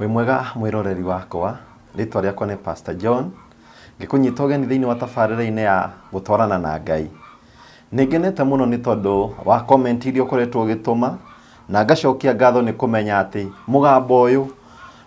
wĩ mwega mwĩroreri wakwa rĩtwa rĩakwa nĩ pastor john ngĩkũnyita ũgeni thĩinĩ wa tabarĩra-inĩ ya gũtwarana na ngai nĩngenete mũno nĩ tondũ wa comment iria ũkoretwo ũgĩtũma na ngacokia ngatho nĩ kũmenya atĩ mũgambo ũyũ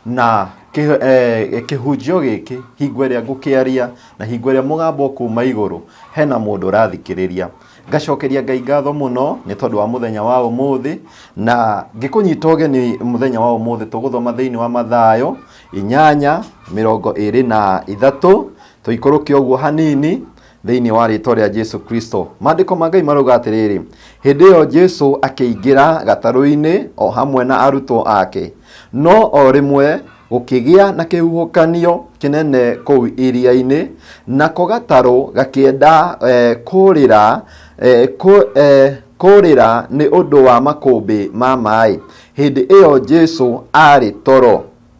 Na kĩ- eh, kĩhunjio gĩkĩ hingo ĩrĩa ngũkĩaria na hingo ĩrĩa mũgambo kuuma igũrũ hena mũndũ ũrathikĩrĩria ngacokeria ngai ngatho mũno nĩ tondũ wa mũthenya wa ũmũthĩ na ngĩkũnyita ũgeni mũthenya wa ũmũthĩ tũgũthoma thĩinĩ wa mathayo inyanya mĩrongo ĩrĩ na ithatũ tũikũrũke ũguo hanini Thĩinĩ wa rĩĩtwa rĩa Jesu Kristo. Maandĩko ma Ngai marauga atĩrĩrĩ, hĩndĩ ĩyo Jesu akĩingĩra gatarũ-inĩ o hamwe na arutwo ake. No o rĩmwe gũkĩgĩa na kĩhuhũkanio kĩnene kũu iria-inĩ, nako gatarũ gakĩenda eh, kũrĩra eh, kũ, eh, kũrĩra nĩ ũndũ wa makũmbĩ ma maĩ. Hĩndĩ ĩyo Jesu arĩ toro.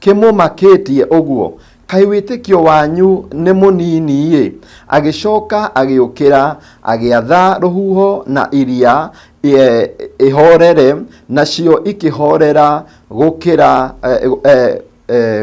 Kĩmũmakĩtie ũguo, kaĩ wĩtĩkio wanyu nĩ mũnini-ĩ! Agĩcooka agĩũkĩra, agĩatha rũhuho na iria ihoorere, nacio ikĩhoorera gũkĩra,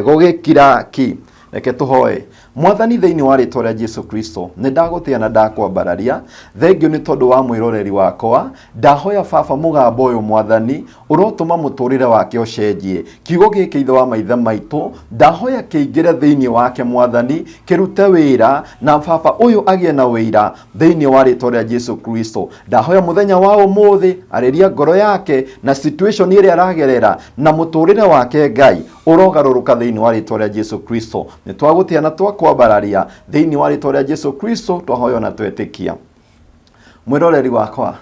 gũgĩkira ki. Reke tũhoe. Mwathani, thĩinĩ wa rĩĩtwa rĩa Jesu Kristo, nĩ ndagũtĩa na ndakwambararia. Thengiũ nĩ tondũ wa mwĩroreri wakwa. Ndahoya Baba mũgambo ũyũ Mwathani, Ũrotũma mũtũrĩre wake ũcenjie. Kiugo gĩkĩ Ithe wa maithe maitũ, ndahoya kĩingĩre thĩinĩ wake Mwathani, kĩrute wĩra, na baba ũyũ agĩe na ũira, thĩinĩ wa rĩtwa rĩa Jesu Kristo. Ndahoya mũthenya wa ũmũthĩ, arĩria ngoro yake, na situation ĩrĩa aragerera, na mũtũrĩre wake Ngai, ũrogarũrũka thĩinĩ wa rĩtwa rĩa Jesu Kristo. Nĩtwagũtĩa na twakwambararia, thĩinĩ wa rĩtwa rĩa Jesu Kristo twahoya na twetĩkia. Mwĩroreri wakwa,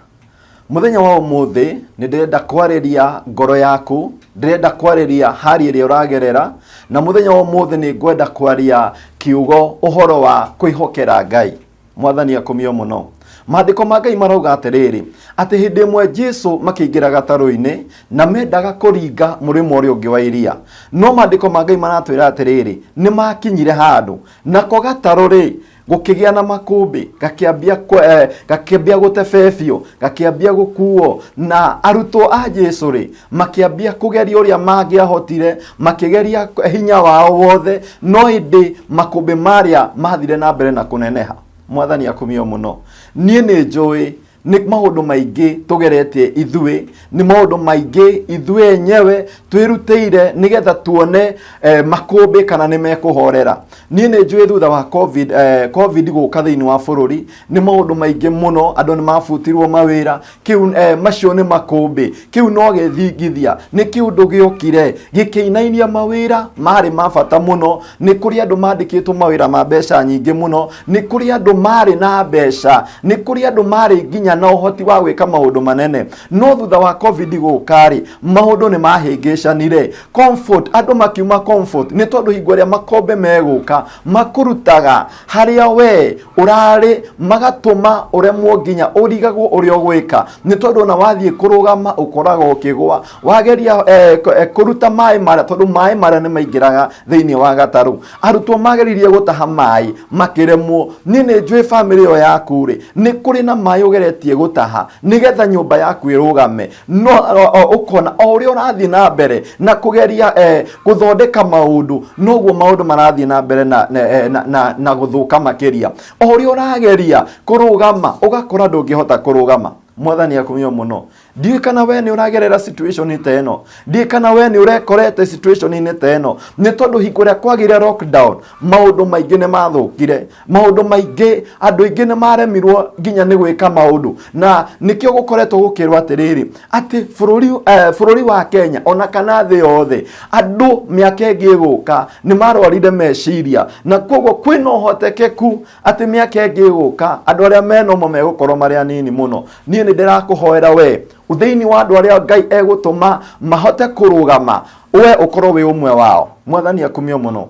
mũthenya wa ũmũthĩ nĩ ndĩrenda kwarĩria ngoro yaku, ndĩrenda kwarĩria hali ĩrĩa ũragerera, na mũthenya wa ũmũthĩ nĩ ngwenda kwaria kiugo ũhoro wa kwĩhokera Ngai. Mwathani akumio mũno. Maandĩko ma Ngai marauga atĩrĩrĩ, atĩ hĩndĩ ĩmwe Jesu makĩingĩra gatarũ-inĩ na mendaga kũringa mũrĩmo ũrĩa ũngĩ wa iria. No maandĩko ma Ngai maratwĩra atĩrĩrĩ, nĩ makinyire handũ, nako gatarũ-rĩ, gũkĩgĩa na makũmbĩ gakĩambia kwe- eh, gakĩambia gũtebebio gakĩambia gũkuo na arutwo a jesu rĩ makĩambia kũgeria ũrĩa mangĩahotire makĩgeria hinya wao wothe no ĩndĩ makũmbĩ marĩa mathire na mbere na kũneneha mwathani akumio mũno niĩ nĩ njũĩ nĩ maũndũ maingĩ tũgeretie ithuĩ nĩ maũndũ maingĩ ithuĩ enyewe twĩrutĩire nĩgetha tuone eh, makũmbĩ kana nĩ mekũhorera niĩ nĩ njũĩ thutha wa covid, eh, covid gũka thĩinĩ wa bũrũri nĩ maũndũ maingĩ mũno andũ nĩ mabutirwo mawĩra kĩu eh, macio nĩ makũmbĩ Kĩu no gĩthingithia, nĩ kĩũndũ gĩokire gĩkĩinainia mawĩra marĩ ma bata mũno. Nĩ kũrĩ andũ mandĩkĩtwo mawĩra ma mbeca nyingĩ mũno, nĩ kũrĩ andũ marĩ na mbeca, nĩ kũrĩ andũ marĩ nginya na ũhoti wa gwĩka maũndũ manene. No thutha wa Covid gũka-rĩ, maũndũ nĩ mahĩngĩcanire. Comfort, andũ makiuma comfort, nĩ tondũ hingo ĩrĩa makombe megũka, makũrutaga, harĩa we ũrarĩ magatũma ũremwo nginya ũrigagwo ũrĩa ũgwĩka nĩ tondũ ona wathiĩ kũrũgama ũkoragwo ũkĩgwa wageria eh, kũ- eh, kũruta maĩ marĩa tondũ maĩ marĩa nĩ maingĩraga thĩinĩ wa gatarũ arutwo mageririe gũtaha maĩ makĩremwo niĩ nĩ njũĩ bamĩrĩ ĩyo yaku rĩ nĩ kũrĩ na maĩ ũgeretie gũtaha nĩgetha nyũmba yaku ĩrũgame no o- o- ũkona o ũrĩa ũrathiĩ na mbere na kũgeria eh, gũthondeka maũndũ noguo maũndũ marathiĩ na mbere na, na, eh, na, na, na gũthũka makĩria o ũrĩa ũrageria kũrũgama ũgakora ndũngĩhota kũrũgama mwathani akumio mũno ndiũĩ kana we nĩ ũragerera situation ta ĩno ndiũĩ kana we nĩ ũrekorete situation-inĩ ta ĩno nĩ tondũ hingo ĩrĩa kwagĩire lockdown maũndũ maingĩ nĩ mathũkire maundu maingi andu aingi ni maremirwo nginya ni gwika maundu na nikio gukoretwo gukirwo atiriri ati bururi eh, bururi wa Kenya ona kana thi yothe andu miaka ingi iguka ni marwarire meciria na koguo kwina uhotekeku ati miaka ingi iguka andu aria menomo megukorwo mari anini muno nie ni ndirakuhoera we thiini wa andu aria ngai egutuma mahote kurugama we ukorwo wi umwe wao mwathani akumio muno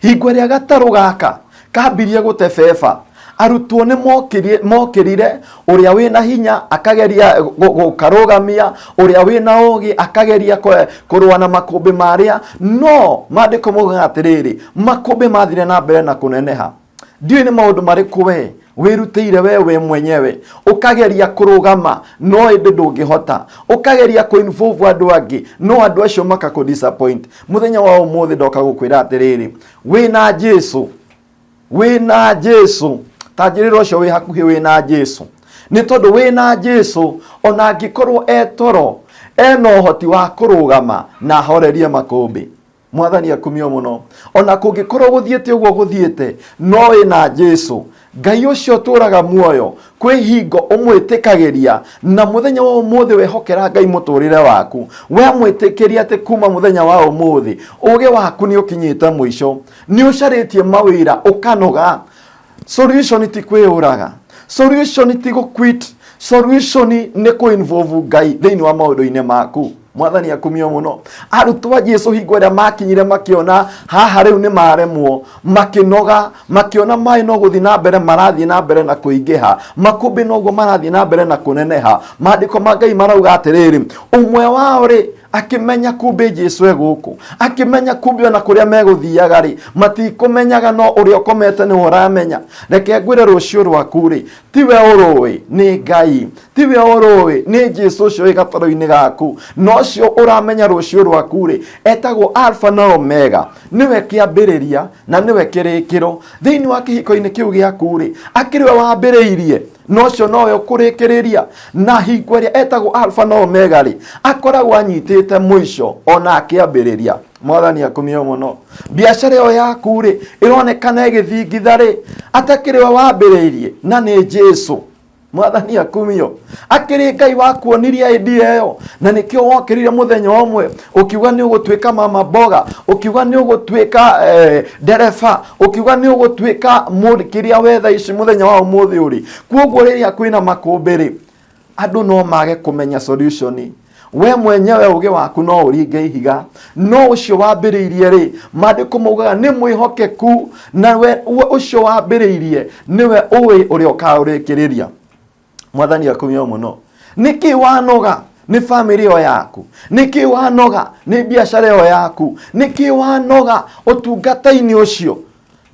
hingo ĩrĩa gatarũ gaka kambirie gũtebeba arutwo nĩ mokiri- mokĩrire ũrĩa wĩna hinya akageria gũ- gũkarũgamia ũrĩa wĩna ũgĩ akageria kwe- kũrũa na makũmbĩ marĩa no maandĩko maugaga atĩrĩrĩ makũmbĩ mathire na mbere na kũneneha ndiũĩ nĩ maũndũ marĩkũ we wĩrutĩire we we mwenyewe ũkageria kũrũgama no ĩndĩ ndũngĩhota ũkageria kũinvolve andũ angĩ no andũ acio makakũ disappoint mũthenya wa ũmũthĩ ndoka gũkwĩra atĩrĩrĩ wĩna jesu wĩna jesu tanjĩrĩra ũcio wĩ hakuhĩ wĩna jesu nĩ tondũ wĩna jesu ona angĩkorwo e toro ena ũhoti wa kũrũgama na ahorerie makũmbĩ mwathani akumio mũno ona kũngĩkorwo gũthiĩte ũguo gũthiĩte no wĩ na jesu ngai ũcio ũtũraga muoyo kwĩ hingo ũmwĩtĩkagĩria na mũthenya wa ũmũthĩ wehokera ngai mũtũrĩre waku we mwĩtĩkĩria atĩ kuma mũthenya wa ũmũthĩ ũgĩ waku nĩ ũkinyĩte mũico nĩ ũcarĩtie mawĩra ũkanoga solution ti kwĩyũraga solution ti gũquit solution nĩ kũinvolve ngai thĩinĩ wa maũndũ-inĩ maku mwathani akumio mũno arutwo a jesu hingo ĩrĩa makinyire makĩona haha rĩu nĩ maremwo makĩnoga makĩona maĩ no gũthiĩ na mbere marathiĩ na mbere na kũingĩha makũmbĩ noguo marathiĩ na mbere na kũneneha maandĩko ma ngai marauga atĩrĩrĩ ũmwe wao rĩ akĩmenya kumbĩ jesu e gũkũ akĩmenya kumbĩ ona kũrĩa megũthiaga rĩ matikũmenyaga no ũrĩa ũkomete nĩwe ũramenya reke ngwĩre rũciũ rwaku rĩ tiwe ũrũĩ nĩ ngai tiwe ũrũĩ nĩ jesu ũcio wĩ gatoro-inĩ gaku na ũcio ũramenya rũciũ rwaku rĩ etagwo alfa na omega nĩwe kĩambĩrĩria na nĩwe kĩrĩkĩro thĩinĩ wa kĩhiko-inĩ kĩu gĩaku rĩ akĩrĩwe wambĩrĩirie na ũcio nowe ũkũrĩkĩrĩria na hingo ĩrĩa etagwo alfa na omega rĩ akoragwo anyitĩte mũico ona akĩambĩrĩria mwathani akumio mũno biacara ĩyo yaku rĩ ĩronekana ĩgĩthingitha rĩ atakĩrĩ we wambĩrĩirie na nĩ jesu mwathani akumio akĩrĩ ngai wakuonirie idea ĩyo na nĩkĩo wokĩrire mũthenya ũmwe ukiuga ni ugutuika mama boga ukiuga ni ugutuika eh, ndereba ukiuga ni ugutuika kiria wetha ici muthenya wa umuthi uri kuoguo riria kwina makumbi ri andu no mage kumenya solution we mwenyewe uge waku no uringe ihiga no ucio wambiriirie ri mandiko maugaga ni mwihokeku na we we- ucio wambiriirie niwe uwi uria ukaurikiriria mwathani akumio muno niki wanoga ni family yo yaku niki wanoga ni biashara yo yaku niki wanoga utungata-ini ucio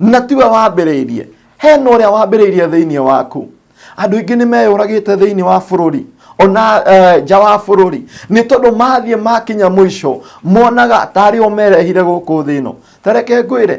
na tiwe wambĩrĩirie hena ũrĩa wambĩrĩirie thĩinĩ waku andũ aingĩ nĩ meyũragĩte thĩinĩ wa bũrũri ona eh, nja wa bũrũri nĩ tondũ mathiĩ makinya mũico monaga tarĩ o merehire gũkũ thĩ ĩno tareke ngwĩre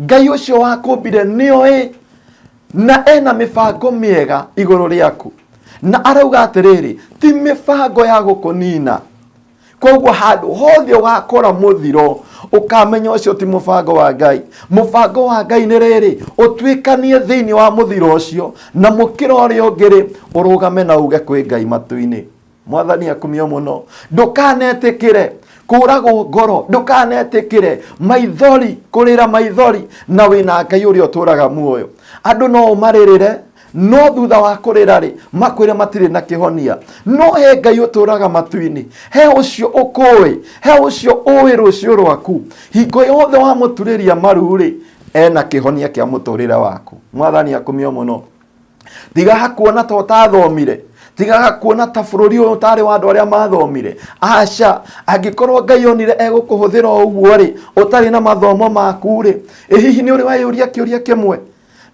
ngai ũcio wakũmbire nĩoĩ na ena mĩbango mĩega igũrũ rĩaku na arauga atĩrĩrĩ ti mĩbango ya gũkũnina koguo handũ hothe ũgakora mũthiro ũkamenya ũcio ti mũbango wa ngai mũbango wa ngai nĩ rĩrĩ ũtuĩkanie thĩinĩ wa mũthiro ũcio na mũkĩra ũrĩa ũngĩrĩ ũrũgame na uge kwĩ ngai matu-inĩ mwathani akumio muno ndukanetikire kuragwo ngoro ndukanetikire maithori kurira maithori na wina ngai uria uturaga muoyo andu no umaririre no thutha wa kurira ri makwire matire na kihonia no he ngai uturaga matu-ini he ucio ukui he ucio ui rucio rwaku hingo yothe wamuturiria maru ri ena kihonia kia muturire waku mwathani akumio muno tigaga kuona ta ũtathomire tigaga kuona ta bũrũri ũyũ ũtarĩ wa andũ arĩa mathomire aca angĩkorwo ngai onire egũkũhũthĩra o ũguo rĩ ũtarĩ na mathomo maku rĩ ĩ hihi nĩ ũrĩ weyũria kĩũria kĩmwe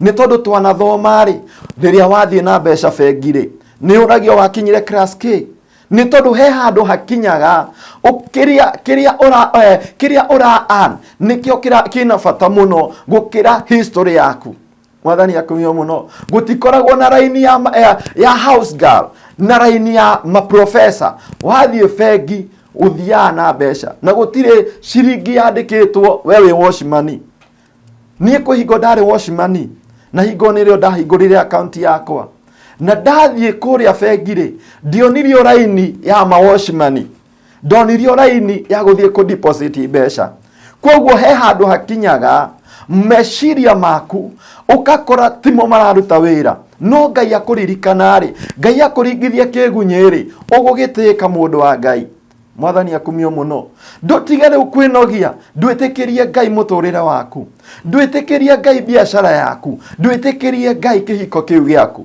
nĩ tondũ twanathoma rĩ rĩrĩa wathiĩ na mbeca bengi rĩ nĩ ũragio wakinyire class k nĩ tondũ he handũ hakinyaga ũ- kĩrĩa kĩrĩa ũra eh, kĩrĩa ũra earn nĩkĩo kĩra- kĩna bata mũno gũkĩra history yaku mwathani akumio muno gutikoragwo na raini ya, ma- ya, ya house girl na raini ya maprofesa wathiĩ bengi ũthiaga na mbeca na gũtirĩ ciringi yandĩkĩtwo we wĩ washimani niĩ kwĩ hingo ndarĩ washimani na hingo nĩrĩo ndahingũrire akaunti yakwa na ndathiĩ kũrĩa bengi-rĩ ndionire raini ya mawashimani ndonirio raini ya gũthiĩ kũ deposit mbeca kwoguo he handũ hakinyaga meciria maku ũgakora timo mararuta wĩra no ngai akũririkana rĩ ngai akũringithia kĩgunyĩ rĩ ũgũgĩtĩĩka mũndũ wa ngai mwathani akumio mũno ndũtige rĩu kwĩnogia ndwĩtĩkĩrie ngai mũtũrĩre waku ndwĩtĩkĩrie ngai biacara yaku ndwĩtĩkĩrie ngai kĩhiko kĩu gĩaku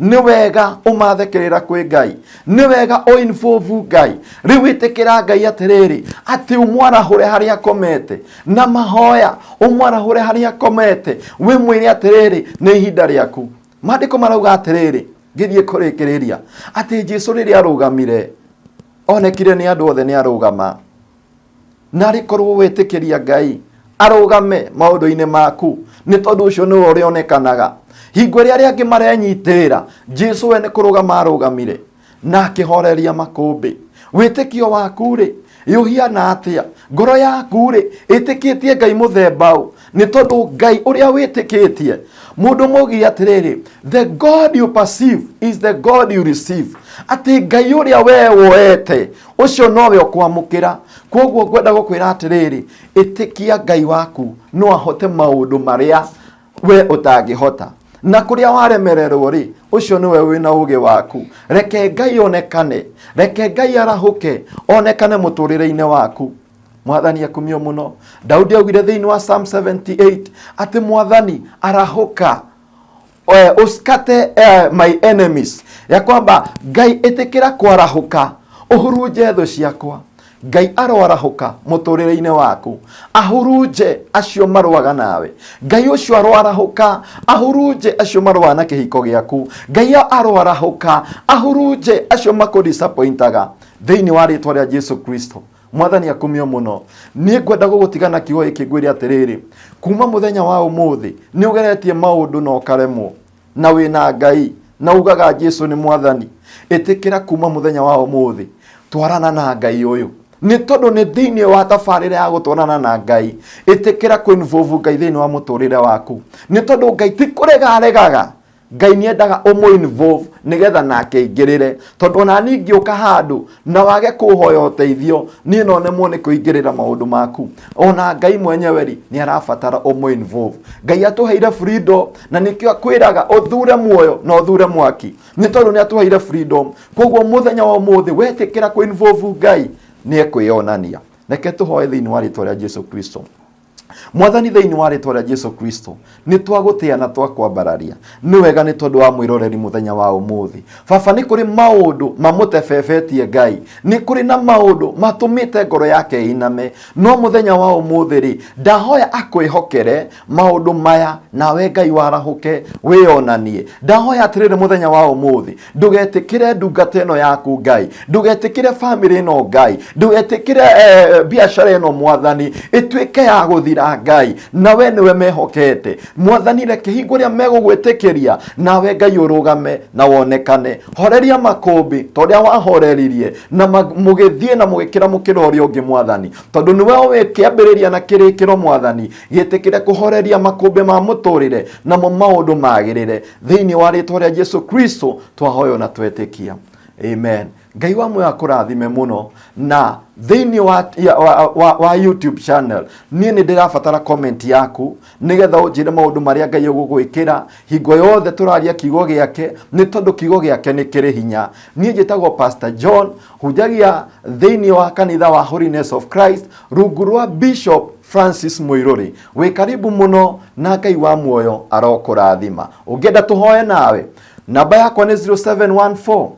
nĩ wega ũmathekerera kwĩ ngai nĩ wega ũinvovu ngai rĩu wĩtĩkĩra ngai atĩrĩrĩ atĩ ũmwarahũre harĩa akomete na mahoya ũmwarahũre harĩa akomete wĩ mwĩre atĩrĩrĩ nĩ ihinda rĩaku maandĩko marauga atĩrĩrĩ ngĩthiĩ kũrĩkĩrĩria atĩ jesu rĩrĩa arũgamire onekire nĩ andũ othe nĩ arũgama narä korwo wetä kä ria ngai arũgame maũndũ-inĩ maku nĩ tondũ ũcio nĩwe ũrĩa onekanaga hingo ĩrĩa arĩa angĩ marenyitĩra jesu we nĩ kũrũgama arũgamire na akĩhoreria makũmbĩ wĩtĩkio waku-rĩ ĩũhiana atĩa ngoro yaku-rĩ ĩtĩkĩtie ngai mũthemba ũ nĩ tondũ ngai ũrĩa wĩtĩkĩtie mũndũ mũgiĩ atĩrĩrĩ the god you perceive is the god you receive atĩ ngai ũrĩa wee woete ũcio nowe ũkwamũkĩra kwoguo ngwenda gũkwĩra atĩrĩrĩ ĩtĩkia ngai waku no ahote maũndũ marĩa we ũtangĩhota na kũrĩa waremererwo rĩ ũcio nĩwe wĩna ũgĩ waku reke ngai onekane reke ngai arahũke onekane mũtũrĩre-inĩ waku mwathani akumio muno daudi augire thiini wa psalm 78 ati mwathani arahuka eh, uskate eh, my enemies ya kwamba ngai itikira kwarahuka uhurunje thũ ciakwa ngai aroarahuka mũtũrĩre-inĩ waku ahurunje acio marũaga nawe ngai ũcio aroarahuka ahurunje acio marũaga na kĩhiko gĩaku ngai aroarahuka ahurunje acio makũdisappointaga thĩinĩ wa rĩtwa rĩa jesu kristo mwathani akumio mũno niĩ ngwenda gũgũtiga na kiugo gĩkĩ ngwĩre atĩrĩrĩ kuma mũthenya wa ũmũthĩ nĩ ũgeretie maũndũ na ũkaremwo na wĩna ngai na ugaga jesu nĩ mwathani ĩtĩkĩra kuma mũthenya wa ũmũthĩ twarana na ngai ũyũ nĩ tondũ nĩ thĩinĩ wa tabarĩra ya gũtwarana na ngai ĩtĩkĩra kũinvovu ngai thĩinĩ wa mũtũrĩre waku nĩ tondũ ngai ti kũrega aregaga Ngai nĩ endaga ũmũ involve nĩgetha nake aingĩrĩre tondũ ona niĩ ingĩũka handũ na wage kũhoya ũteithio niĩ no nemwo nĩ kũingĩrĩra maũndũ maku ona Ngai mwenyewe rĩ nĩ arabatara ũmũ involve Ngai atũheire freedom na nĩkĩo akwĩraga ũthure muoyo na ũthure mwaki nĩ tondũ nĩ atũheire freedom kwoguo mũthenya wa ũmũthĩ wetĩkĩra kũ involve Ngai nĩ ekwĩyonania reke tũhoe thĩinĩ wa rĩtwa rĩa Jesu Kristo. mwathani thĩinĩ wa rĩtwa rĩa jesu kristo nĩ twagũtĩa na twakwambararia nĩ wega nĩ tondũ wa mwĩroreri mũthenya wa ũmũthĩ baba nĩ kũrĩ maũndũ mamũtebebetie ngai nĩ kũrĩ na maũndũ matũmĩte ngoro yake ĩiname no mũthenya wa ũmũthĩ rĩ ndahoya akwĩhokere maũndũ maya nawe ngai warahũke wĩyonanie ndahoya atĩrĩrĩ mũthenya wa ũmũthĩ ndũgetĩkĩre ndungata ĩno yaku ngai ndũgetĩkĩre bamĩrĩ ĩno ngai ndũgetĩkĩre eh, biacara ĩno mwathani ĩtuĩke ya gũthira ngai nawe nĩwe mehokete mwathani reke hingo ĩrĩa megũgwĩtĩkĩria nawe ngai ũrũgame na wonekane horeria makũmbĩ ta ũrĩa wahoreririe na ma- mũgĩthiĩ na mũgĩkĩra mũkĩra ũrĩa ũngĩ mwathani tondũ nĩwe ũĩ kĩambĩrĩria na kĩrĩkĩro mwathani gĩtĩkĩre kũhoreria makũmbĩ ma mũtũrĩre namo maũndũ magĩrĩre thĩinĩ wa rĩtwa rĩa jesu kristo twahoyo na twetĩkia amen ngai wa muoyo akũrathime mũno na thĩinĩ wa, ya- wa, wa, wa youtube channel niĩ nĩ ndĩrabatara comment yaku nĩgetha ũnjĩre maũndũ marĩa ngai ũgũgwĩkĩra hingo yothe tũraria kiugo gĩake nĩ tondũ kiugo gĩake nĩ kĩrĩ hinya niĩ njĩtagwo pastor john hunjagia thĩinĩ wa kanitha wa holiness of christ rungu rwa bishop francis mũirũrĩ Wĩ karibu mũno na Ngai wa muoyo arokũrathima. Ũngĩenda tũhoe nawe, namba yakwa nĩ 0714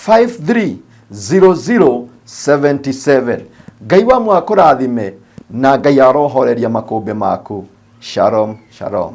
530077. Ngai wa muoyo akũrathime na Ngai arohoreria makũmbĩ maku. Shalom, shalom.